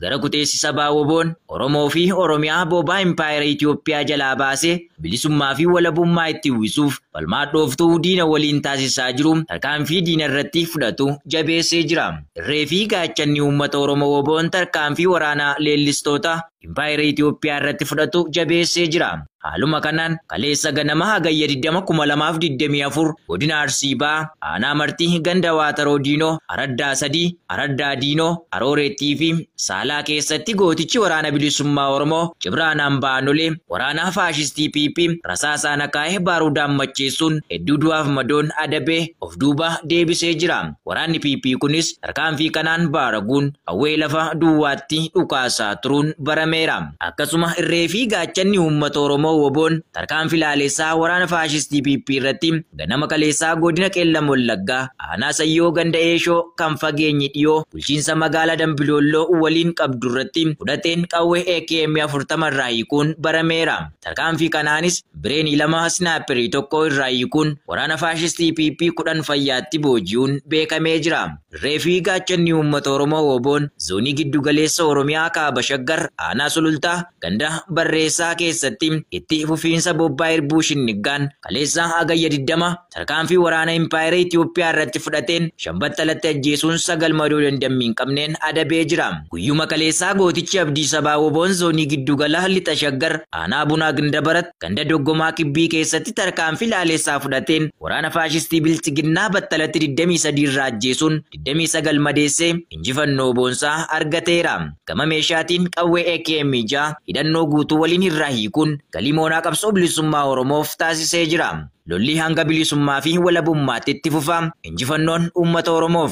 Gara kuteessi sabaa woboon Oromoo fi Oromiyaa boobaa Impaayera Itoophiyaa jalaa baasee bilisummaa fi walabummaa itti uwwisuuf falmaa dhooftuu diina waliin taasisaa jiru tarkaanfii diina irratti fudhatu jabeessee jira. Irree fi gaachanni uummata Oromoo woboon tarkaanfii waraanaa leellistoota Impaayera Itiyoophiyaa irratti fudhatu jabeessee jira. Haaluma kanaan kaleessa ganama Hagayya 20,2024 godina Arsii Bahaa aanaa Martii ganda Waataroo Diinoo araddaa 3 araddaa Diinoo, Arooreettii fi Saalaa keessatti gootichi Waraana Bilisummaa Oromoo Cibraan Ambaa Anolee waraana faashistii PP rasaasaan akaa'e baaruudaan macheessuun hedduu du'aaf madoon adabee of duuba deebisee jira. Waraanni PP kunis tarkaanfii kanaan baaraguun qawwee lafa duwwaatti dhukaasaa turuun barameera. Akkasuma irree fi gaachanni uummata Oromoo WBOn tarkaanfi laalessaa waraana faashistii PP irratti ganama kaleessaa godina Qeellam Wallaggaa aanaa Sayyoo ganda Eeshoo kan fageenyi dhiyoo bulchiinsa magaalaa Dambi Doolloo waliin qabdurratti fudhateen qawwee AKM 40 irraa hiikuun barameera. Tarkaanfii kanaanis bireenii lama snaayipperii tokko irraa hiikuun waraana faashistii PP 10 fayyaatti booji'uun beekamee jira. Irree fi gaachanni uummata Oromoo WBOn Zoonii Giddu Galeessa Oromiyaa Kaaba Shaggar Aanaa Sulultaa ganda Barreessaa keessatti itti fufiinsa bobbaa irbuu shinniggaan kaleessa Hagayya 20, tarkaanfii waraana Impaayera Itoophiyaa irratti fudhateen shan battalatti ajjeesuun sagal madoo dandammii hin qabneen adabee jira. Guyyuma kaleessaa gootichi abdii sabaa woboon zoonii giddu gala lixa Shaggar aanaa Bunaa Gindabarat ganda Doggomaa Kibbii keessatti tarkaanfii laalessaa fudhateen waraana faashistii Bilxiginnaa battalatti 23 irraa ajjeesuun 29 madeessee injifannoo boonsaa argateera. Gama meeshaatiin qawwee AKM 6 hidhannoo guutuu waliin irraa hiikuun galii moonaa qabsoo bilisummaa Oromoof taasisee jira. Lolli hanga bilisummaa fi walabummaatti itti fufa. Injifannoon uummata Oromoof!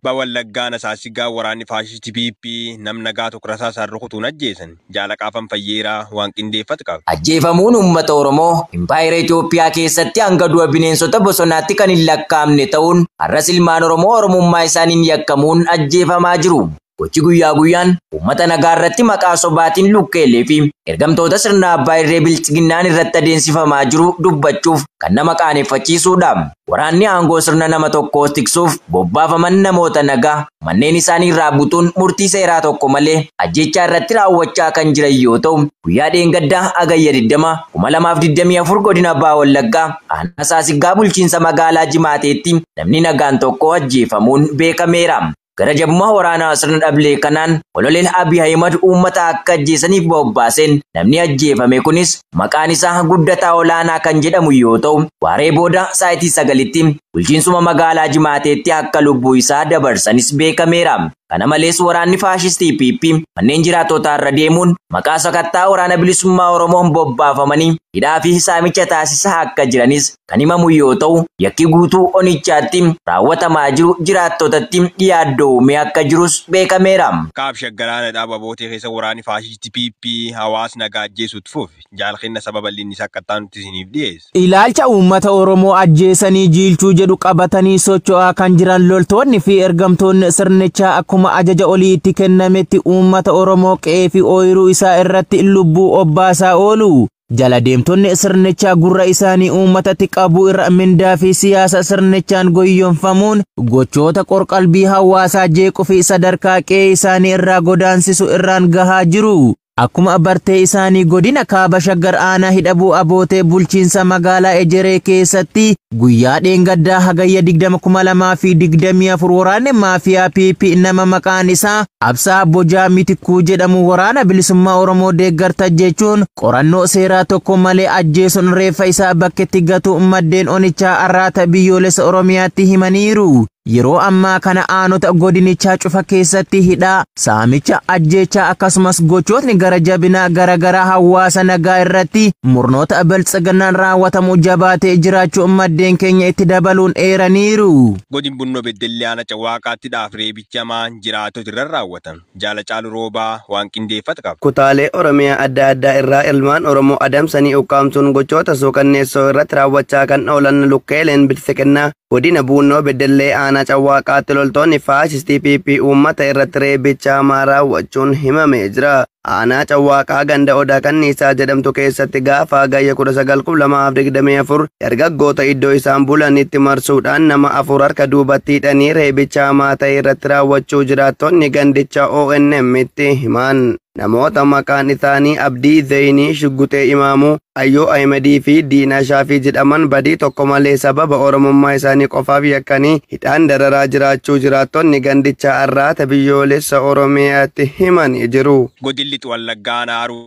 Kibba Wallaggaa Aanaa Saassigaa waraanni faashistii PP nam nagaa tokko rasaasaan rukutuun ajjeesan. Jaal Qaafan Fayyeeraa waan qindeeffat qaba. Ajjeefamuun uummata Oromoo Impaayera Itoophiyaa keessatti hanga du'a bineensota bosonaatti kan hin lakkaa'amne ta'uun har'as ilmaan Oromoo Oromummaa isaaniin yakkamuun ajjeefamaa jiru. Gochi guyyaa guyyaan uummata nagaa irratti maqaa sobaatiin lukkeelee fi ergamtoota sirna abbaa irree bilxiginnaan irratti adeemsifamaa jiru dubbachuuf kan nama qaaneffachiisuudha. Waraanni aangoo sirna nama tokkoo tiksuuf bobbaafaman namoota nagaa manneen isaanii irraa butuun murtii seeraa tokko malee ajjeechaa irratti raawwachaa kan jiran yoo ta'u, guyyaa dheengaddaa Hagayya 20, 2024 godina Baha Wallaggaa aanaa Saasiggaa bulchiinsa magaalaa Jimaateetti namni nagaan tokko ajjeefamuun beekameera. gara jabummaa waraanaa sirna dhablee kanaan kololeen Abiy Ahimad uummata akka ajjeesaniif bobbaaseen namni ajjeefame kunis maqaan isaa Guddataa Olaanaa kan jedhamu yoo ta'u waaree booda saayitii sagalitti bulchiinsuma magaalaa Jimaateetti akka lubbuu isaa dabarsanis beekameera. Kana malees waraanni faashistii PP manneen jiraattotaa irra deemuun maqaa sakattaa waraana bilisummaa Oromoon bobbaafamanii hidhaa fi saamicha taasisaa akka jiranis kan himamu yoo ta'u, yakki guutuu onichaatti raawwatamaa jiru jiraattotatti yaaddoo uumee akka jirus beekameera. Kaab Shaggar Aanadhaa Babootii keessa waraanni faashisti PP hawaas nagaa ajjeesuu itti fufe. Jaal Kenna Saba bal'inni isaa akka ittaanutti isiniif dhiyeessa. Ilaalcha uummata Oromoo ajjeesanii jiilchuu jedhu qabatanii socho'aa kan jiran loltoonni fi ergamtoonni sirnichaa akkuma ajaja olii itti kennametti uummata Oromoo qe'ee fi ooyiruu isaa irratti lubbuu obbaasaa oolu. Jala deemtonni sirnichaa gurra isaanii uummatatti qabuu irra mindaa fi siyaasa sirnichaan goyyomfamuun gochoota qorqalbii hawaasaa jeequu fi sadarkaa qe'ee isaanii irraa godaansisu irraan gahaa jiru. Akkuma bartee isaanii godina kaaba shaggar aanaa hidhabuu abootee bulchiinsa magaalaa Ejeree keessatti Guyyaa dheengaddaa Hagayya 20,2024 waraanni maafiyaa PP nama maqaan isaa Absaa Bojaa Mitikkuu jedhamu waraana bilisummaa Oromoo deeggarta jechuun qorannoo seeraa tokko malee ajjeesuun reeffa isaa bakketti gatuu maddeen onichaa arraata biyyoolessa Oromiyaatti himaniiru. Yeroo ammaa kana aanota godinichaa cufa keessatti hidhaa, saamicha, ajjeechaa akkasumas gochootni gara jabinaa garaagaraa hawaasa nagaa irratti murnoota biltsiginnaan raawwatamu jabaatee jiraachuu maddeen keenya itti dabaluun eeraniiru. Godin Bunnoo Beddellee Aana Cawaaqaatti dhaaf reebichi hamaan jiraatota irra raawwatan Jaal Hacaaluu Roobaa waan qindeeffate qaba. Kutaalee Oromiyaa adda addaa irraa ilmaan Oromoo adamsanii ukkaamsuun gochoota suukanneessoo irratti raawwachaa kan oolan lukkeeleen biltsiginnaa Godina Buunnoo Beddellee Aanaa Cawwaaqaatti loltoonni faashistii PP uummata irratti reebicha hamaa raawwachuun himamee jira. Aanaa Cawwaaqaa ganda Odaa Kanniisaa jedhamtu keessatti gaafa Hagayya 19,2024 dargaggoota iddoo isaan bulanitti marsuudhaan nama afur harka duubatti hidhanii reebicha hamaa ta'e irratti raawwachuu jiraattonni gandichaa ONM'tti himan. Namoota maqaan isaanii Abdii Zeeyinii, Shugguxee Imaamuu, Ayyoo Ahimadii fi Diinaa Shaafii jedhaman badii tokko malee sababa Oromummaa isaanii qofaaf yakkanii hidhaan dararaa jiraachuu jiraattonni gandichaa Arraata Biyyoolessa Oromiyaatti himanii jiru. Godin Lixu Wallaggaa Aanaa Haruu.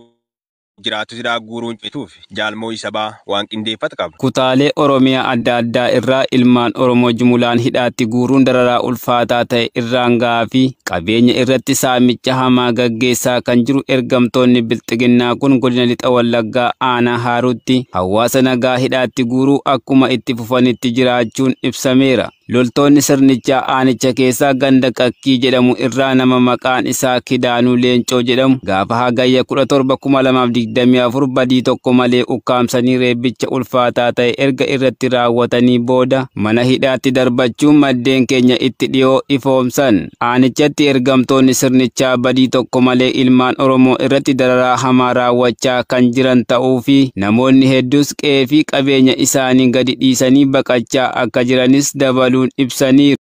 jiraattu sidaa guuruun cituuf Jaal Moo'ii Sabaa waan qindeeffat qaba. Kutaalee Oromiyaa adda addaa irraa ilmaan Oromoo jumulaan hidhaatti guuruun dararaa ulfaataa ta'e irraan ga'aa fi qabeenya irratti saamicha hamaa gaggeessaa kan jiru ergamtoonni Bilxiginnaa kun godina Lixa Wallaggaa aanaa Haaruutti hawaasa nagaa hidhaatti guuruu akkuma itti fufanitti jiraachuun ibsameera. Loltoonni sirnichaa aanicha keessaa ganda Qakkii jedhamu irraa nama maqaan isaa Kidaanuu Leencoo jedhamu gaafa Hagayya 17,2024 badii tokko malee ukkaamsanii reebbicha ulfaataa ta'e erga irratti raawwatanii booda mana hidhaatti darbachuun maddeen keenya itti dhiyoo ifoomsan. Aanichatti ergamtoonni sirnichaa badii tokko malee ilmaan Oromoo irratti dararaa hamaa raawwachaa kan jiran ta'uu fi namoonni hedduus qe'ee fi qabeenya isaanii gadi dhiisanii baqachaa akka jiranis dabaluun ibsaniiru.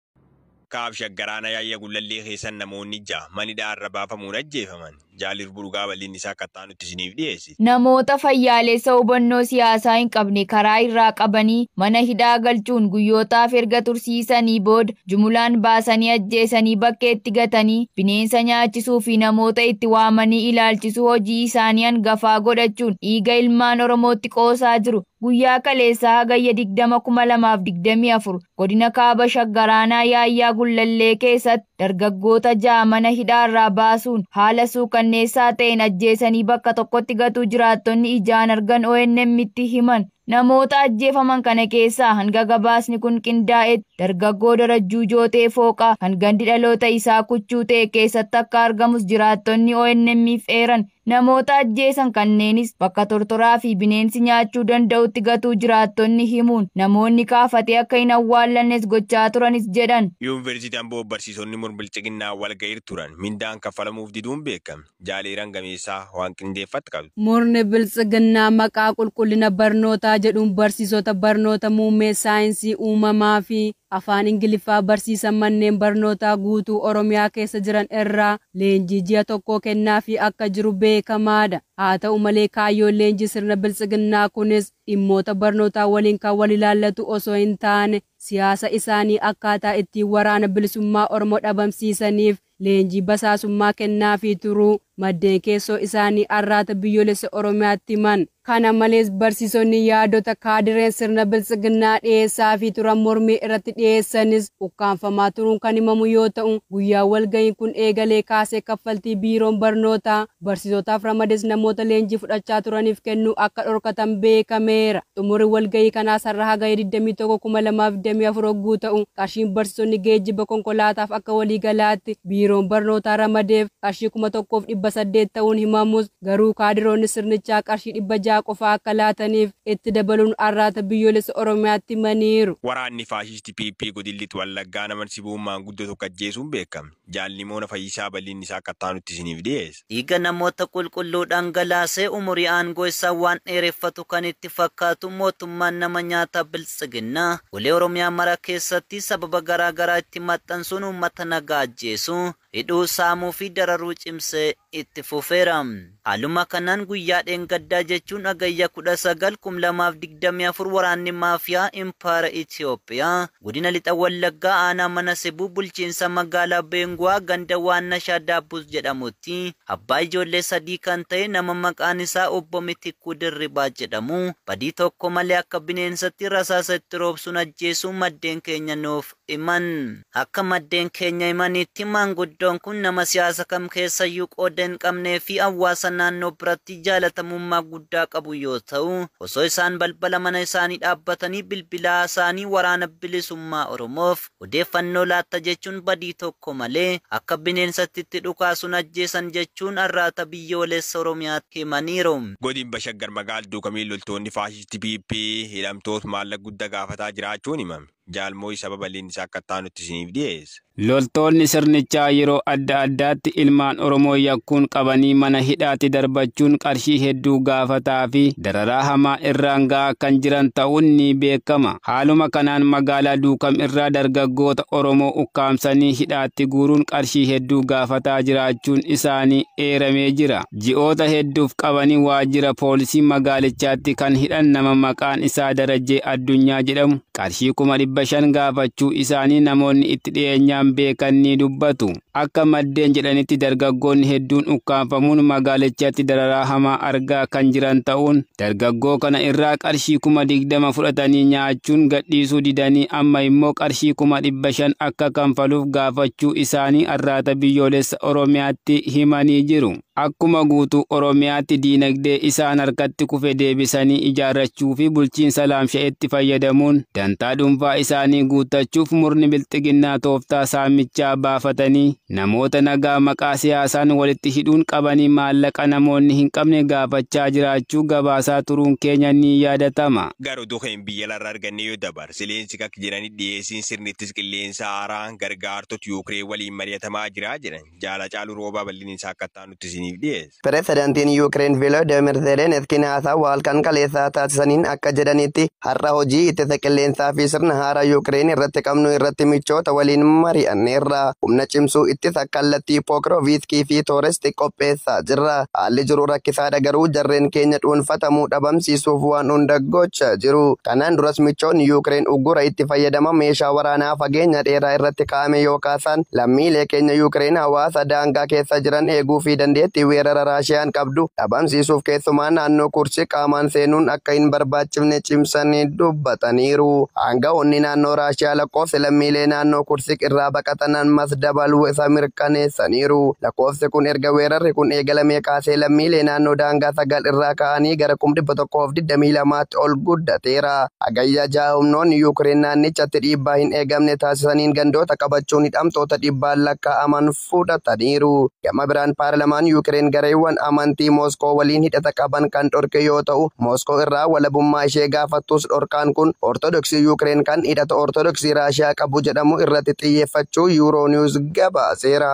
Kaab Shaggar Aanaa Yaayya Gullallee keessan namoonni 6 man hidhaa irra baafamuun ajjeefaman. Jaal Irbuu Dhugaa bal'inni isaa akka itti aanutti isiniif dhiyeessina. Namoota fayyaaleessa hubannoo siyaasaa hin qabne karaa irraa qabanii mana hidhaa galchuun guyyootaaf erga tursiisanii booda jumulaan baasanii ajjeesanii bakkeetti gatanii bineensa nyaachisuu fi namoota itti waamanii ilaalchisuu hojii isaanii hangafaa godhachuun dhiiga ilmaan Oromootti qoosaa jiru. Guyyaa kaleessaa Hagayya 20,2024 godina Kaaba Shaggar aanaa Yaayyaa Gullallee keessatti dargaggoota 6 mana hidhaarraa baasuun haala suukanneessaa ta'een ajjeesanii bakka tokkotti gatuu jiraattonni ijaan argan ONM'tti himan. Namoota ajjeefaman kana keessaa hanga gabaasni kun qindaa'etti dargaggoo Darajjuu Jootee Fooqaa kan gandi dhaloota isaa Kuchuu ta'e keessatti akka argamus jiraattonni ONM'f eeran. Namoota ajjeesan kanneenis bakka tortoraa fi bineensi nyaachuu danda'utti gatuu jiraattonni himuun namoonni kaafatee akka hin awwaallannes gochaa turanis jedhan. Yuunversiitii Amboo barsiisonni mur-bilxiginnaa walga'iir turan mindaan kaffalamuuf diduun beekame. Jaal Eeran Gameessaa waan qindeeffatt qabdi. Murni biltsiginnaa maqaa qulqullina barnootaa jedhuun barsiisota barnoota muummee saayinsii uumamaa fi Afaan Ingiliffaa barsiisan manneen barnootaa guutuu Oromiyaa keessa jiran irraa leenjii ji'a tokkoo kennaafii akka jiru beekamaadha. Haata'u malee kaayyoon leenjii sirna biltsiginnaa kunis dhimmoota barnootaa waliin kan wal ilaallatu osoo hin taane siyaasa isaanii akkaataa ittiin waraana bilisummaa Oromoo dhabamsiisaniif leenjii basaasummaa kennaafii turuu maddeen keessoo isaanii Arraata Biyyoolessa Oromiyaatti himan. Kana malees barsiisonni yaadota kaadireen sirna Biltsiginnaa dhiyeessaafii turan mormii irratti dhiyeessanis ukkaamfamaa turuun kan himamu yoo ta'u, guyyaa walgahiin kun eegalee kaasee kaffaltii Biiroon Barnootaa, barsiisotaaf ramades namoota leenjii fudhachaa turaniif kennuu akka dhorkatan beekameera. Xumurri walgahii kanaas har'a Hagayya 21, 2024 ogguu ta'u, qarshiin barsiisonni geejjiba konkolaataaf akka waliigalaatti Biiroon Barnootaa ramadeef qarshii 1800 ta'uun himamus, garuu kaadiroonni sirnichaa qarshii 600 qofaa akka laataniif itti dabaluun Arraata Biyyoolessa Oromiyaatti himaniiru. Waraanni faashisti PP godin Lix Wallaggaa nama Nsibuun maanguddoo tokko ajjeesuun beekame. Jaal Nimoona Fayyisaa bal'inni isaa akka ittaanutti isiniif dhiyeessa. Dhiiga namoota qulqulluu dhangalaasee umurii aangoo isaa waan dheereffatu kan itti fakkaatu mootummaan nama nyaataa Biltsiginnaa golee Oromiyaa mara keessatti sababa garaa garaa itti maxxansuun uummata nagaa ajjeesuu, hidhuu, saamuu fi dararuu cimsee itti fufeera. Haaluma kanaan guyyaa dheengaddaa jechuun Hagayya 19, 2024 waraanni maafiyaa Impaayera Itiyoophiyaa godina Lixa Wallaggaa aanaa Mana Sibuu bulchiinsa magaalaa Beenguwaa ganda Waannashaa Daabbus jedhamutti abbaa ijoollee sadii kan ta'e nama maqaan isaa Obbo Mitikkuu Dirribaa jedhamu badii tokko malee akka bineensatti rasaasa itti roobsuun ajjeesuu maddeen keenya nuuf himan. Akka maddeen keenya himaniitti maanguddoon kun nama siyaasa kam keessayyuu qooda hin qabnee fi hawwaasa naannoo biratti jaalatamummaa guddaa qabu yoo ta'u, osoo isaan balbala mana isaanii dhaabbatanii bilbila haasa'anii Waraana Bilisummaa Oromoof odeeffannoo laatta jechuun badii tokko malee akka bineensatti itti dhukaasuun ajjeesan jechuun Arraata Biyyoolessa Oromiyaatti himaniiru. Godinba Shaggar Magaal Duukamiin loltoonni faashisti PP hidhamtoot maallaq gudda gaafataa jiraachuun himame. Jaal Mooyi Saba Bal'inni isaa akka itti aanutti isiniif dhiyeessa. Loltoonni sirnichaa yeroo adda addaatti ilmaan Oromoo yakkuun qabanii mana hidhaatti darbachuun qarshii hedduu gaafataa fi dararaa hamaa irraan ga'aa kan jiran ta'uun ni beekama. Haaluma kanaan magaalaa Duukam irraa dargaggoota Oromoo ukkaamsanii hidhaatti guuruun qarshii hedduu gaafataa jiraachuun isaanii eeramee jira. ji'oota hedduuf qabanii waajjira poolisii magaalichaatti kan hidhan nama maqaan isaa Darajjee Addunyaa jedhamu qarshii kuma dhibba shan gaafachuu isaanii namoonni itti dhiyeenyaan beekan ni dubbatu. Akka maddeen jedhanitti dargaggoonni hedduun ukkaamfamuun magaalichatti dararaa hamaa argaa kan jiran ta'uun Dargaggoo kana irraa qarshii kuma 20 fudhatanii nyaachuun gadhiisuu didanii amma immoo qarshii kuma 500 akka kanfaluuf gaafachuu isaanii Arraata Biyyoolessa Oromiyaatti himanii jiru. Akkuma guutuu Oromiyaatti diinagdee isaan harkatti kufe deebisanii ijaarrachuu fi bulchiinsa laamsha'etti fayyadamuun dantaa dhuunfaa isaanii guuttachuuf murni Bilxiginnaa tooftaa saamichaa baafatanii Namoota nagaa maqaa siyaasaan walitti hidhuun qabanii maallaqa namoonni hin qabne gaafachaa jiraachuu gabaasaa turuun keenya ni yaadatama. Gar oduu keen biyya alarra argannee yoo dabar, Zelensky akka jedhanitti dhiyeessiin sirni ittis qilleensaa haaraa gargaartot Yuukreen waliin mari'atamaa jira jedhan. Jaal Hacaaluu Roobaa bal'inni isaa akka itti aanutti isiniif dhiyeessa. Pirezidantiin Yuukireen Viloodimir Zeleniskiin haasawa halkan kaleessaa taasisaniin akka jedhanitti har'a hojii ittisa qilleensaa fi sirna haaraa Yuukireen irratti qabnu irratti michoota waliin mari'anneerra. Humna cimsuu ittisa kallattii Pookirooviiskii fi Tooresti qopheessaa jirra. Haalli jiru rakkisaadha garuu jarreen keenya dhuunfatamuu dhabamsiisuuf waan hunda gochaa jiru. Kanaan duras michoonni Yuukireen uggura itti fayyadama meeshaa waraanaa fageenya dheeraa irratti danda'ame yoo kaasan, lammiilee keenya Yuukireen hawaasa daangaa keessa jiran eeguu fi dandeettii weerara Raashiyaan qabdu dhabamsiisuuf keessumaa naannoo Kursk qaamaan seenuun akka hin barbaachifne cimsanii dubbataniiru. Aanga'oonni naannoo Raashiyaa lakkoofsi lammiilee naannoo Kursk irraa baqatan ammas dabaluu isa mirkaneessaniiru. Lakkoofsi kun erga weerarri kun eegalamee kaasee lammiilee naannoo daangaa 9 irraa ka'anii gara kum 122tti ol guddateera. Hagayya 6 humnoonni Yuukireen naannichatti dhiibbaa hin eegamne taasisaniin gandoota qabachuun hidhamtoota dhibbaan lakkaa'aman fudhataniiru. Gama biraan paarlamaan Yuukireen gareewwan amantii Mooskoo waliin hidhata qaban kan dhorke yoo ta'u, Mooskoo irraa walabummaa ishee gaafattus dhorkaan kun Ortodoksii Yuukireen kan hidhata Ortodoksii Raashiyaa qabu jedhamu irratti xiyyeeffachuu Euronews gabaaseera.